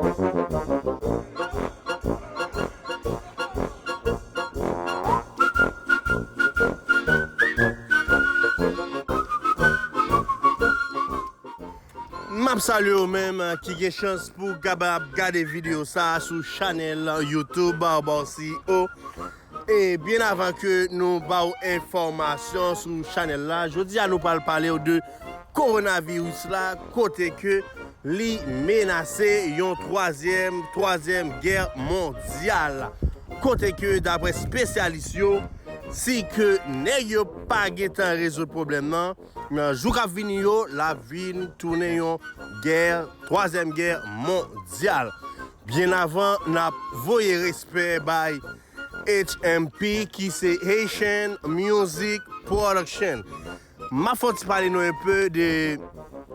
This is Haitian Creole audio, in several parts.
Map salye ou menm ki gen chans pou kapab gade video sa sou chanel youtube Bawseyo. E byen avan ke nou ba ou enfòmasyon sou chanèl la, jodi a nou pral pale ou de Kowonaviris la kote ke li menase yon twazyèm twazyèm gè mondyal. Kote ke daprè spesyalis yo, si ke nèg yo pa gentan rezoud pwoblèm nan, nan jou kap vini yo, lap vin tounen yon gè, twazyèm gè mondyal. Byen avan nap voye respè bay HMP ki se Haitian Music Production map fon ti pale nou un peu de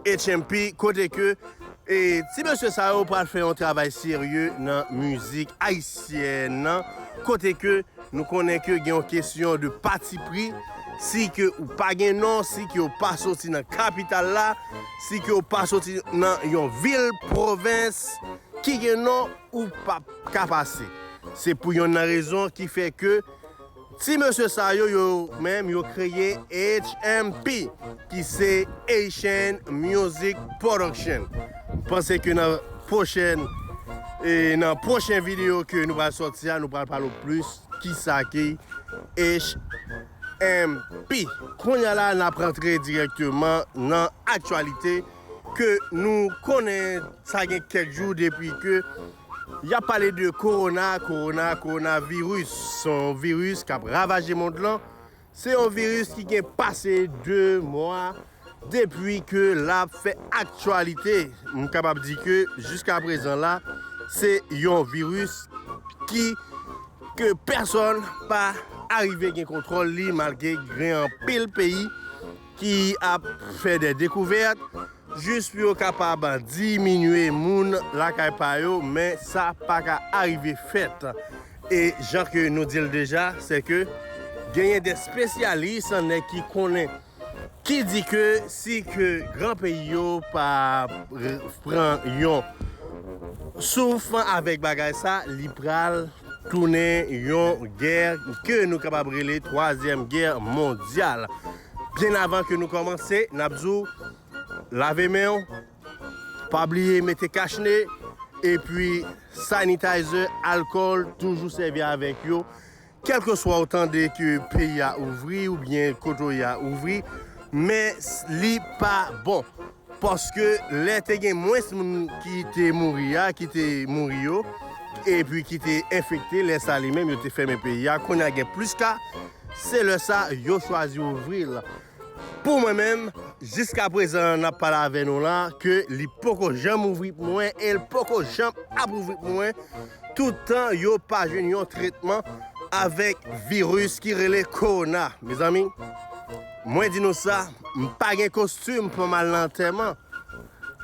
HMP kote ke ti mesye sa yo pral fè yon travay serye nan mizik ayisyèn nan kote ke Nou konnen ke gen yon kesyon de pati pri, si ke ou pa gen non, si ke ou pa soti nan kapital la, si ke ou pa soti nan yon vil pwovens ki gen non, ou pa ka pase. Se pou yonn nan rezon ki fè ke ti mesye sa yo, yo menm yo kreye HMP. ki se Haitian Music Production. M panse ke nan pwochèn e nan pwochen videyo ke nou pral sòti a, nou pral pale w plis ki sa ki HMP. Kounya la n ap rantre dirèkteman nan aktyalite ke nou konnen sa gen kèk jou depi ke y ap pale de Kowona, Kowona, Kowona viris. Se yon viris k ap ravaje mond lan. Se yon viris ki gen pase 2 mwa depwi ke lap fè aktyalite. M kapab di ke jiska prezan la, se yon viris ki ke pèsòn pa arive gen kontwòl li malgre gen anpil peyi. ki ap fè dè dekouvèt jis pou yo kapab diminye moun lakay pa yo men sa pa ka arive fèt e jan ke nou di l deja se ke genyen dè spesyalis nèg ki konnen ki di ke si ke gran peyi yo pa pran yon souf avèk bagay sa li pral. tounen yon gè ke nou kapab rele twazyèm gè mondyal. Byen avan ke nou kòmanse, n ap di w lave men w, pa bliye mete kach ne, epi sanitayzè, alkòl, toujou sèvi avèk yo. Kèlkeswa ou tande ke peyi a ouvri oubyen kote w ye a ouvri, men li pa bon. Paske lè te gen mwens moun ki te mouri a, ki te mouri yo, epi ki te enfekte, lè sa li menm yo te fèmen peyi a. Kounye a gen plis ka, se lè sa yo chwazi ouvri l. Pou mwen menm, jiska prezan n ap pale avè nou la, ke li poko janm ouvri pou mwen e l poko janm ap ouvri pou mwen toutan yo pa jwenn yon tretman avèk viris ki rele kowona. Mezanmi! Mwen di nou sa, m pa gen kostim pou m al nan antèman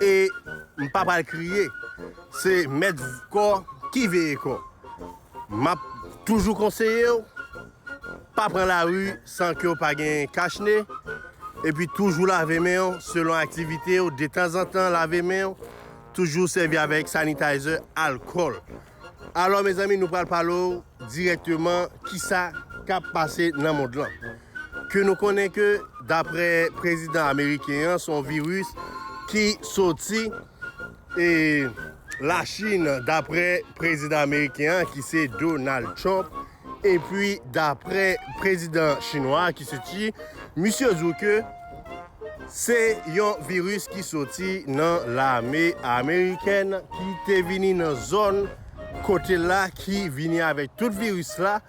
e m pa pral kriye. Se mèt kò ki veye kò. M ap toujou konseye w, pa pran lari san ke w pa gen kach ne, epi toujou lave men w selon aktivite w, detanzantan lave men w, toujou sèvi avèk sanitizer, alkòl. Alò mezanmi nou pral pale w dirèkteman kisa kap pase nan mond lan. Ke nou konnen ke daprè prezidan ameriken an son viris ki soti e lachin daprè prezidan ameriken an ki se Donald Trump Epi daprè prezidan chinwa a ki se Xi, misye di w ke se yon viris ki soti nan lame amerikèn ki te vini nan zòn kote l la ki vini avèk tout viris la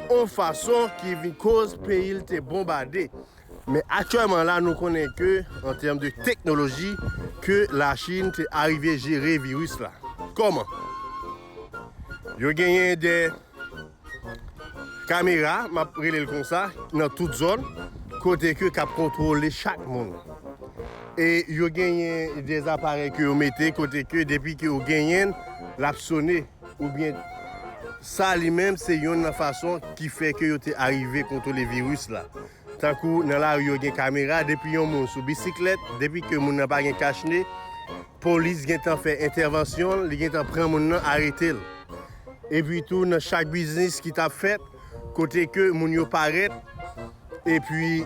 yon fason ki vin koz peyi l te bonbade. Men aktyèlman la nou konnen ke an tèm de teknoloji ke la Chine te arive jere viris la. Kòman? Yo genyen de kamera, map rele l konsa, nan tout zòn kote ke kap kontwole chak moun. E yo genyen de aparèy ke yo mete kote ke depi ke yo genyen l, lap sone. oubyen sa li menm se yonn nan fason ki fè ke yo te arive kontwole viris la. Tankou nan lari yo gen kamera, depi yon moun sou bisiklèt, depi ke moun nan pa gen kach ne, polis gen tan fè entèvansyon l, li gen tan pran moun nan arete l. Epi tou nan chak biznis ki t ap fèt, kote ke moun yo parèt, Epi,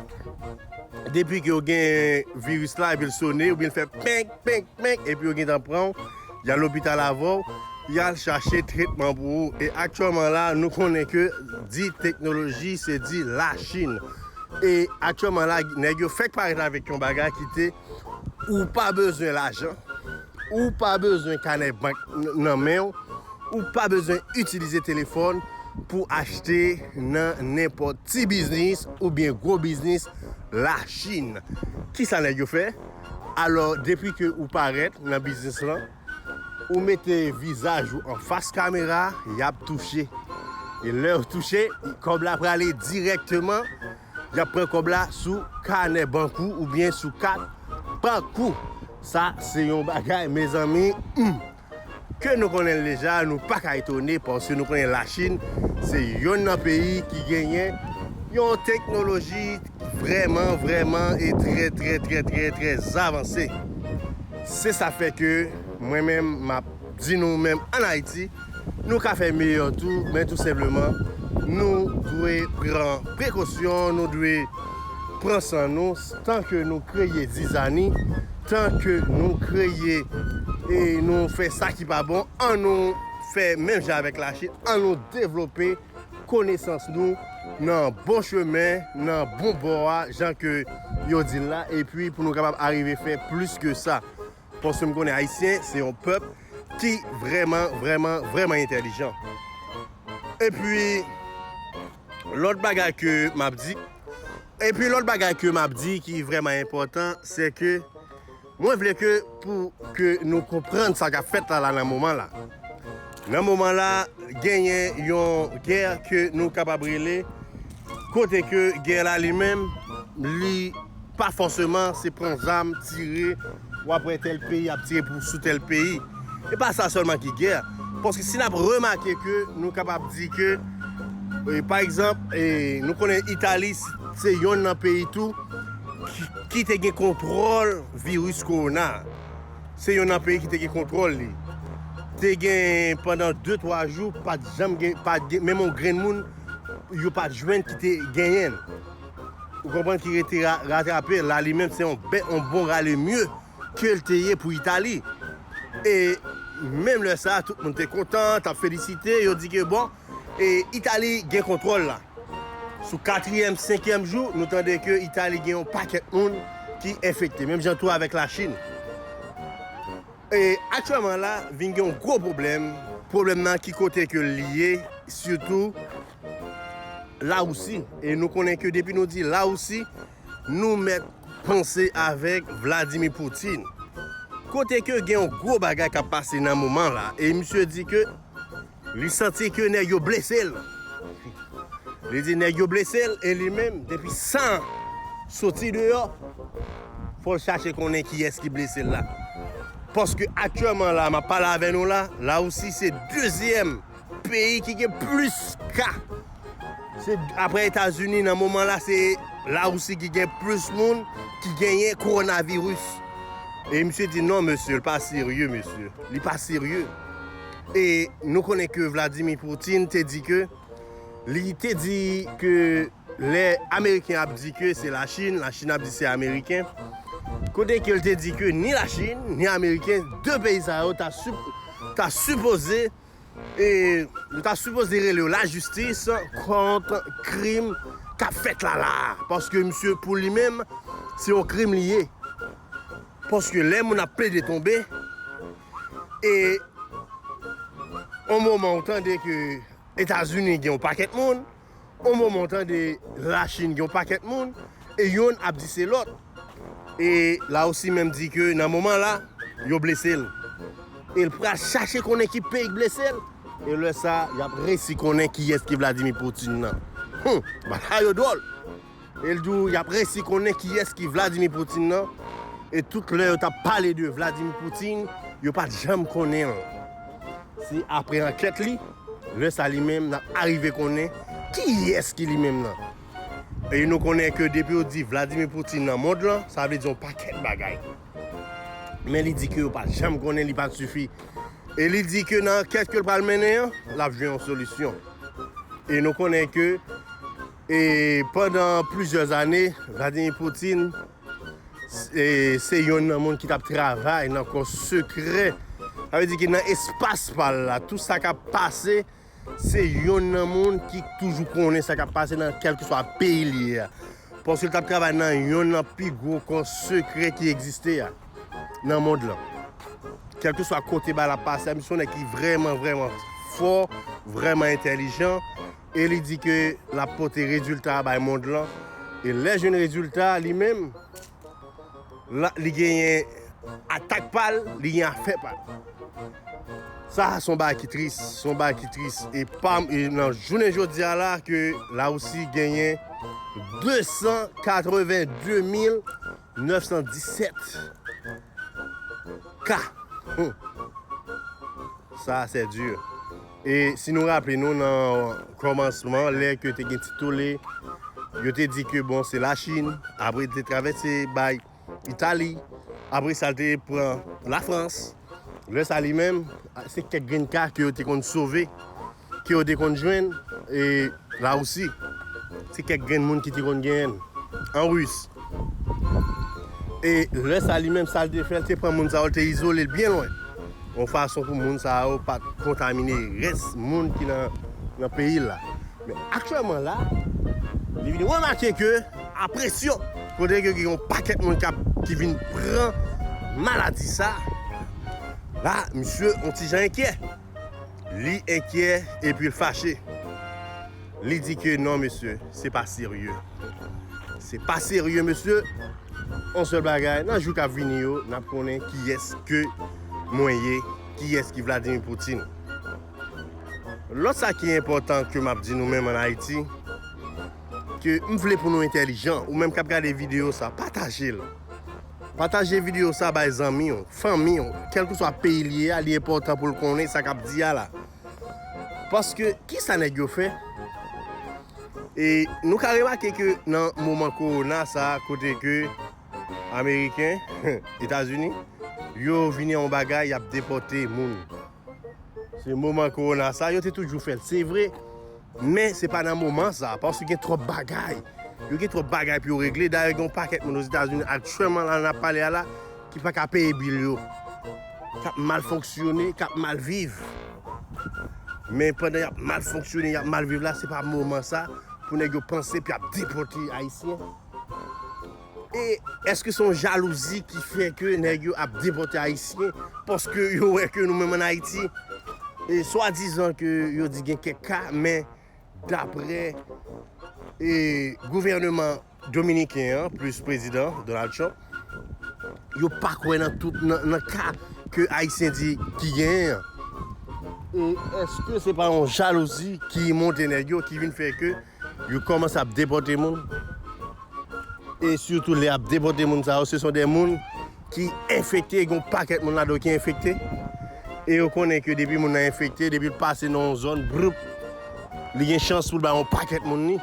depi ke yo gen viris la, epi l sone, oubyen l fè penk, penk, penk, epi yo gentan pran w, y al lopital avè w, y al chache tretman pou ou. E aktyèlman la, nou konnen ke di teknoloji, se di Lachin. E aktyèlman la, nèg yo fèk parèt avèk yon bagay ki te, ou pa bezwen lajan. Ou pa bezwen kanè bank nan men w, ou pa bezwen itilize telefòn pou achte nan nenpòt ti biznis oubyen gwo biznis Lachin. Kisa nèg yo fè? Alò depi ke ou parèt nan biznis lan, ou mete vizaj ou anfas kamera, y ap touche. E lè yo touche, kòb la prale dirèkteman Y ap pran kòb la sou kanè bank ou oubyen sou kat bank ou. Sa se yon bagay mezanmi humm! Ke nou konnen l deja, nou pa ka etone paske nou konnen Lachin se yonn nan peyi ki genyen yon teknoloji vrèman vrèman e trè trè trè trè trè zavanse. Se sa fè ke mwen menm m ap di nou menm an Ayiti, Nou ka fè meyè tou, men tou senpleman nou dwe pran prekosyon, nou dwe pran san nou tan ke nou kreye zizani, tan ke nou kreye e nou fè sa ki pa bon, an nou fè menm jan avèk Lachin, an nou devlope konesans nou nan bon chemen, nan bon bò a, jan ke yo di l la, epi pou nou kapab arive fè plis ke sa. Paske m konnen Ayisyen se yon pèp ki vrèman, vrèman, vrèman entèlijan. Epi, lòt bagay ke m ap di, epi lòt bagay ke m ap di ki vrèman enpòtan, se ke mwen vle ke pou ke nou konprann sa k ap fèt la la nan moman la. Nan moman la genyen yon gè ke nou kapab rele kote ke gè la li menm li pa fòseman se pran zam tire w ap wè tèl peyi ap tire pou sou tèl peyi. E pa sa sèlman ki gè paske si n ap remake ke nou kapab di ke pa egzanp nou konnen Itali se yonn nan peyi tou ki te gen kontwòl viris kowona a. se yon nan peyi ki te gen kontwòl li. Te gen pandan 2 3 jou pat janm gen pat gen menm yon grenn moun yo pat jwenn ki te genyen l. Ou konprann ki rete ratrape la li menm se yon bè yon bon rale mye ke l te ye pou Itali. E menm lè sa tout moun te kontan tap felisite yo di ke bon Itali gen kontwòl la. Sou katriyèm, senkyèm jou, nou tande ke Itali gen yon pakèt moun ki enfekte. Menm jan tou avèk Lachin. E aktyèman la, vin gen yon gwo pwoblèm. Pwoblèm nan ki kote ke l ye, sitou Lawousi. E nou konnen ke depi nou di Lawousi, nou mèt panse avèk Vladimir Putin. Kote ke gen yon gwo bagay k ap pase nan moman la. E misye di ke Li santi ke nèg yo blese l. Li di nèg yo blese l e li menm depi san soti deyò fò l chache konnen kiyès ki blese l la. Paske aktyèman la map pale avè nou la, La Rousi se dezyèm peyi ki gen plis ka. Se aprè Etazini nan moman la se La Rousi ki gen plis moun ki genyen kowonaviris. E misye di non mesye l pa serye mesye. Li pa serye. E nou konnen ke Vladimir Poutine te di ke, li te di ke lè Ameriken ap di ke se la Chine, la Chine ap di se Ameriken. Kote ke li te di ke ni la Chine, ni Ameriken, 2 peyi sa yo ta ta sipoze e nou ta sipoze rele yo la jistis kont krim kap fèt la la a. Paske misye pou li menm, se yon krim li ye. Paske lè moun ap plede tonbe. e yon moman ou tande ke Etazini gen yon pakèt moun, yon moman ou tande la Chin gen yon pakèt moun, e yonn ap di se lòt. E la Russie menm di ke nan moman la, yo blese l. E l pral chache konnen ki peyi k blese l, e lè sa, y ap resi konnen kiyès ki Vladimir Putin nan. Humm! Bagay yo dwòl! E l di w y ap resi konnen kiyès ki Vladimir Poutine nan, e tout lè yo t ap pale de Vladimir Poutine, yo pa t janm konnen l. Se apre ankèt li, lè sa li menm, n ap arive konnen kiyès ki li menm nan. E nou konnen ke depi yo di Vladimir Poutine nan mond lan, sa vle di yon pakèt bagay. Men li di ke yo pa t janm konnen, li pa t sifi. E li di ke nan ankèt ke l pral mennen an, l ap jwenn yon solisyon. E nou konnen ke E pandan plizyè ane, Vladimir Putin se yonn nan moun ki t ap travay nan kò sekrè. Sa vle di ki nan espas pa l la, tou sa k ap pase, se yonn nan moun ki toujou konnen sa k ap pase nan kèlkeswa peyi l ye a. Paske l t ap travay nan yonn nan pi gwo kò sekrè ki egziste a nan mond lan. Kèlkeswa kote bagay la pase a, misye se yon nèg ki vrèman vrèman fò, vrèman entèlijan. e li di ke l ap pote rezilta a bay mond lan, e lè l jwenn rezilta a li menm, li genyen atak pa l, li gen afè pa l. Sa a se yon bagay ki tris, se yon bagay ki tris, e pa nan jounen jodi a la ke Larisi genyen 282 mil 917 ka, sa a sè di. E si nou raple nou nan kòmansman lè ke te gen ti tole, yo te di ke bon se la Chin, apre li te travèse bay Itali, apre sa li te pran la Frans, lè sa li menm se kèk grenn ka ke yo te konn sove, ke yo te konn jwenn, e la Russie se kèk grenn moun ki te konn genyen l, an Russe. E lè sa li menm sa l te fè, l te pran moun sa yo, l te izole l byen lwen, yon fason pou moun sa yo pa t kontamine rès moun ki nan peyi l la. Men aktyèlman la, li vin remake ke a presyon, kote ke gen yon pakèt moun kap, ki vin pran maladi sa, la misye yon ti jan enkyè. Li enkyè epi l fache. Li di ke non mesye, se pa serye. Se pa serye mesye. On sèl bagay, nan jou k ap vini yo, n ap konnen kiyès ke mwen ye, kiyès ki Vladimir Poutine. Lòt sa ki enpòtan ke m ap di nou menm an Ayiti, ke m vle pou nou entèlijan, ou menm k ap gade videyo sa, pataje l. Pataje videyo sa bay zanmi w, fanmi w, kèlkeswa peyi li ye a, li enpòtan pou l konnen sa k ap di a la. Paske, kisa nèg yo fè? E nou ka remake ke nan moman kowona sa a kote ke Ameriken, Etazini, yo vini yon bagay y ap depòte moun. Se moman korona sa yo te toujou fèl se vre men se pa nan moman sa paske gen twòp bagay yo gen twòp bagay pou yo regle dayè gen yon pakèt moun ozetazini aktyèlman la nan ap pale a la ki pa ka peye bil yo k ap mal fonksyone k ap mal viv men pandan y ap mal fonksyone y ap mal viv la se pa moman sa pou nèg yo panse pou y ap depòte ayisyen. E eske se yon jalouzi ki fè ke nèg yo ap depòte ayisyen paske yo wè ke nou menm an Ayiti swadizan ke yo di gen kèk ka men daprè gouvèneman dominiken an plis prezidan Donald Trump yo pa kwè nan tout nan ka ke ayisyen di ki genyen an. E eske se pa yon jalouzi ki monte nèg yo ki vin fè ke Yo komanse ap depote moun e sitou lè yap depote moun sa yo se son de moun ki enfekte gen yon pakèt moun ladan yo ki enfekte e yo konnen ke depi moun nan enfekte depil pase nan yon zòn bwoup li gen chans poul bay yon pakèt moun li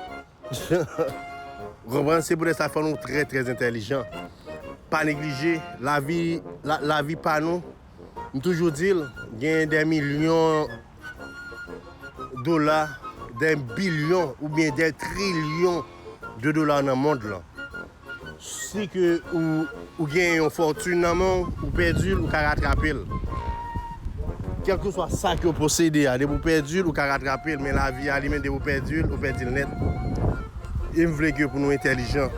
ou konprann se poutèt sa fò nou trè trè entèlijan pa neglije lavi lavi pa nou m toujou dil gen de milyon. dola, dè bilyon oubyen dè trilyon de dola nan mond lan. Si ke ou gen yon fòtin nan men w, ou pèdi l, ou ka ratrape l. Kèlkeswa sa ke w posede a, depi w pèdi l, ou ka ratrape l. Men lavi a li menm, depi w pèdi l, ou pèdi l nèt. E m vle ke pou nou entèlijan.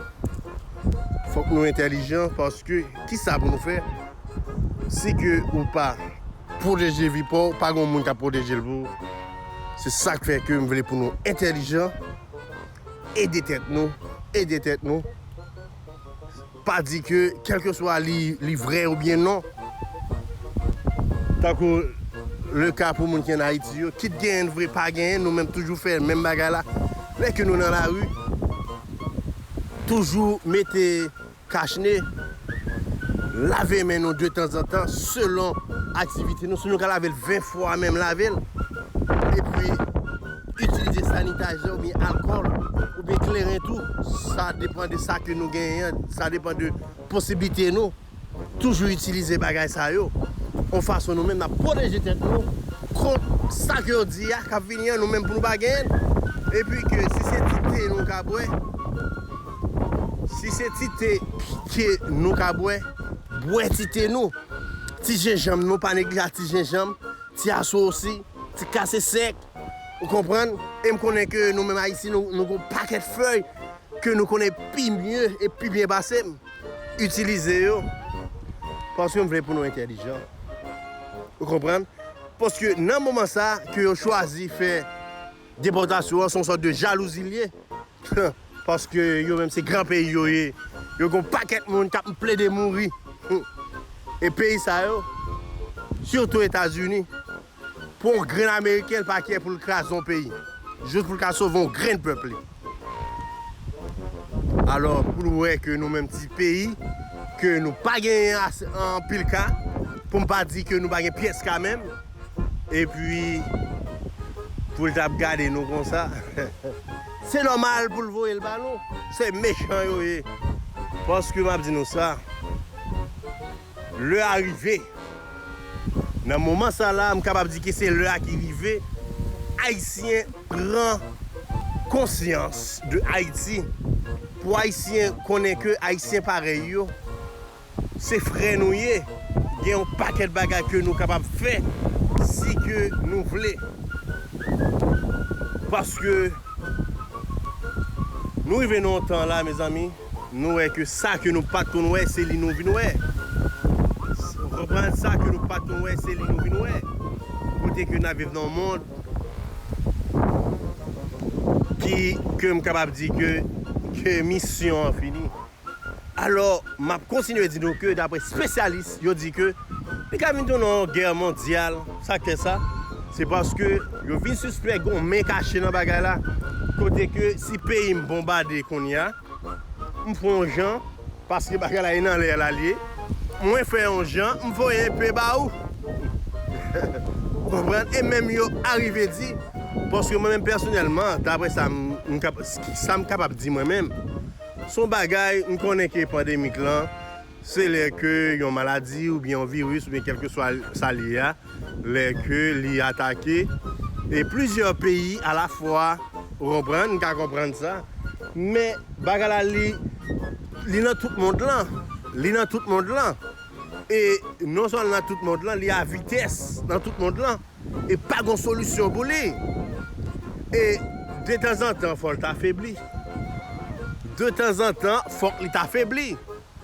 Fòk nou entèlijan paske kisa pou nou fè? Si ke ou pa pwoteje vi paw, pa gon moun kap pwoteje l pou ou. Se sak fè ke m vle pou nou entèlijan, ede tèt nou, ede tèt nou. Pa di ke kelkeswa li vrè ou byen non. Tankou le ka pou moun ki an Ayiti yo, kit genyen vre, pa genyen, nou menm toujou fè menm bagay la. Lè ke nou nan lari, toujou mete. Kach ne, Lave men nou de tanzantan selon aktivite nou, si nou ka lave l 20 fwa menm lave l, epi itilize sanitayzè oubyen alkòl oubyen kleren tou, sa depan de sa ke nou genyen an, sa depan de posiblite nou, toujou itilize bagay sa yo, yon fason nou menm n ap pwoteje tèt nou kont sa ke yo di a k ap vini an nou menm pou nou pa genyen l, epi ke si se ti te nou ka bwè. Si se ti te ke nou ka bwè, bwè ti te nou. Ti jenjanm nou, pa neglija ti jenjanm, ti asosi, ti kase sèk. Ou konprann? E m konnen ke nou menm Ayisyen nou gon pakèt fèy ke nou konnen pi mye e pi byen pase m. Itilize yo. Paske m vle pou nou entèlijan. Ou konprann? Paske nan moman sa ke yo chwazi fè depòtasyon an, se yon sòt de jalouzi li ye. Paske yo menm se gran peyi yo ye. Yo gen yon pakèt moun k ap plede mouri. E peyi sa yo, sitou Etazini, pou yon grenn ameriken l pa kyè pou l kraze yon peyi. Jis pou l ka sove yon grenn pèp li. Alò pou l wè ke nou menm ti peyi, ke nou pa genyen anpil ka, pou m pa di ke nou pa gen pyès ka menm. Epi pou l t ap gade nou konsa. Se nòmal pou l voye l ba nou. Se mechan yo ye. Paske m ap di nou sa, lè a rive. Nan moman sa la, m kapab di ke se lè a ki rive. Ayisyen pran konsyans de Ayiti. Pou Ayisyen konnen ke Ayisyen parèy yo. Se frè nou ye, gen yon pakèt bagay ke nou kapab fè si ke nou vle. Paske nou rive nan yon tan la mezanmi, nou wè ke sa ke nou pat konn wè se li nou vin wè. Ou konprann? Sa ke nou pat konn wè se li nou vin wè. Kote ke nap viv nan yon mond ki ke m kapab di ke misyon an fini. Alò, m ap kontinye di nou ke dapre spesyalis yo di ke li ka vin tounen yon gè mondyal. Sa k fè sa? Se paske yo vin sispèk gen yon men kache nan bagay la. Kote ke si peyi m bonbade kounye a, m fè yon jan, paske bagay la e nan lè la l ye, mwen fè yon jan, m voye enpe ba ou. Ou konprann? E menm yo arive di, paske mwen menm pèsonèlman, dapre sa m kapab di mwen menm, Son bagay m konnen ke pandemik lan se lè ke yon maladi oubyen yon viris oubyen kelkeswa sa l ye a lè ke li atake e plizyè peyi a la fwa ou konprann m ka konprann sa men bagay la li li nan tout mond lan li nan tout mond lan e non sèlman nan tout mond lan li a vitès nan tout mond lan. e pa gon solisyon pou li e detanzantan fòl ta febli detanzantan fòk li ta febli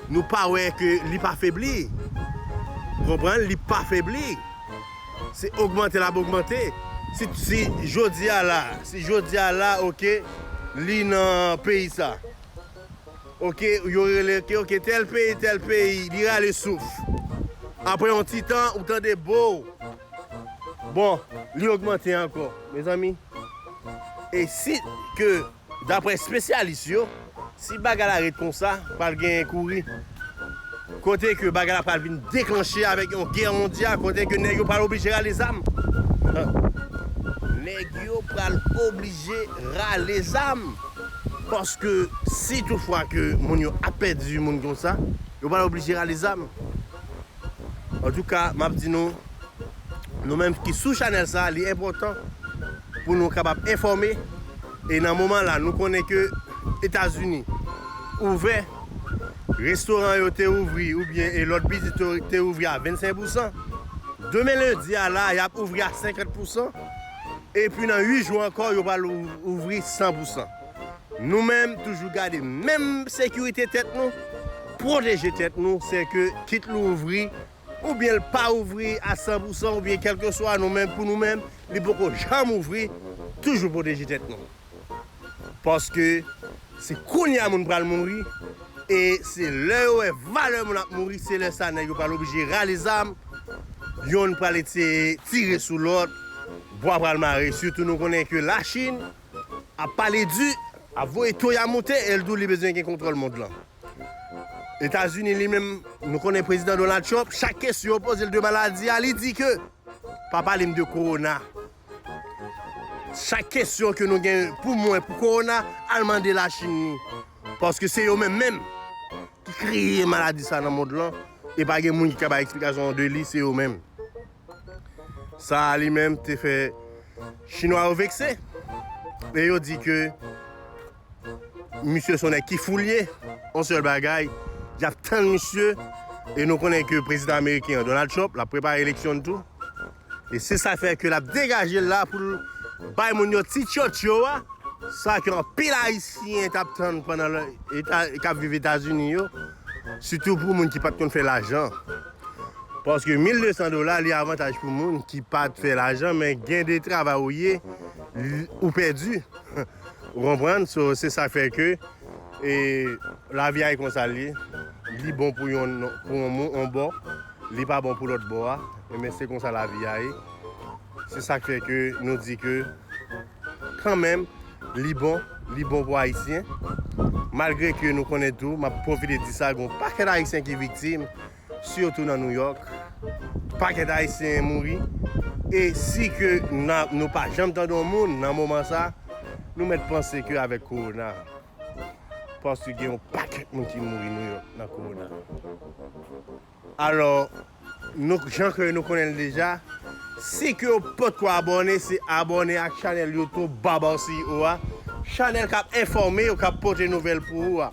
nou pa wè ke li pa febli ou konprann li pa febli se ogmante lap ogmante si jodia la si jodia la ok li nan peyi sa. Ok yo rele ok ok tel peyi tel peyi li rale souf aprè yon ti tan ou tande boo bon li ogmante ankò mezanmi e si ke daprè spesyalis yo si bagay la ret konsa pral gen kouri. Kote ke bagay la pral vin deklanche avèk yon gè mondyal, kote ke nèg yo pral oblije rale zam. Nèg yo pral oblije rale zam. Paske si tout fwa ke moun yo ap pèdi moun konsa, yo pral oblije rale zam. Antouka, m ap di nou, nou menm ki sou chanèl sa a, li enpòtan pou nou kapab enfòme. E nan moman la, nou konnen ke Etazini ouvè. restoran yo te ouvri oubyen e lòt biznis yo te ouvri a 25 pousan, demen lendi a la a y ap ouvri a 50 pousan, epi nan 8 jou ankò yo pral ouvri 100 pousan. Nou menm toujou gade menm sekirite tèt nou, pwoteje tèt nou, se ke kit l ouvri oubyen l pa ouvri a 100 pousan oubyen kèlkeswa nou menm pou nou menm li poko janm ouvri, toujou pwoteje tèt nou. Paske se kounya moun pral mouri e se lè yo wè valè moun ap mouri se lè sa nèg yo pral oblije rale zam, yonn pral eseye tire sou lòt, bwa pral mare sitou nou konnen ke Lachin ap pale di, ap voye to ya moute e l dou li bezwen gen kontwòl mond lan. Etazini li menm nou konnen Prezidan Donald Trump chak kesyon yo poze l de maladi a li di ke pa pale m de kowona. Chak kesyon ke nou gen pou mwen pou korona al mande la chine li. Paske se yo menm menm ki kreye maladi sa nan mond lan e pa gen moun ki ka bay eksplikasyon de li se yo menm. Sa a li menm te fè chinwa yo vekse e yo di ke. Misye son nèg ki fou li ye. On sèl bagay, y ap tann misye e nou konnen ke prezidan ameriken an, Donald Trump, l ap prepare eleksyon l tou. E se sa fè ke l ap degaje l la pou l bay moun yo ti tyotyo a, sa ke anpil Ayisyen t ap tann pandan lè k ap viv Etazini yo, sitou pou moun ki pa t konn fè lajan. Paske 1200 dola li avantaj pou moun ki pa t fè lajan men gen de travay ou ye ou pèdi. Ou konprann? So, se sa k fè ke e lavi a e konsa l ye. Li bon pou yon pou yon moun yon bò, li pa bon pou lòt bò a. Enben se konsa lavi a ye. Se sa k fè ke nou di ke kanmenm li bon, li bon pou Ayisyen. Malgre ke nou konnen tou, m ap pwofite di sa, gen yon pakèt Ayisyen ki viktim. Sitou nan New York, pakèt Ayisyen mouri, e si ke nou pa janm tande yon moun nan moman sa, nou mèt panse ke avèk Kowona, paske gen yon pakèt moun ki mouri New York nan Kowona. Alò, nou jan ke nou konnen l deja, si ke w potko abòne, se abòne ak chanèl YouTube Babarcio a, chanèl k ap enfòme w, k ap pote nouvèl pou ou a.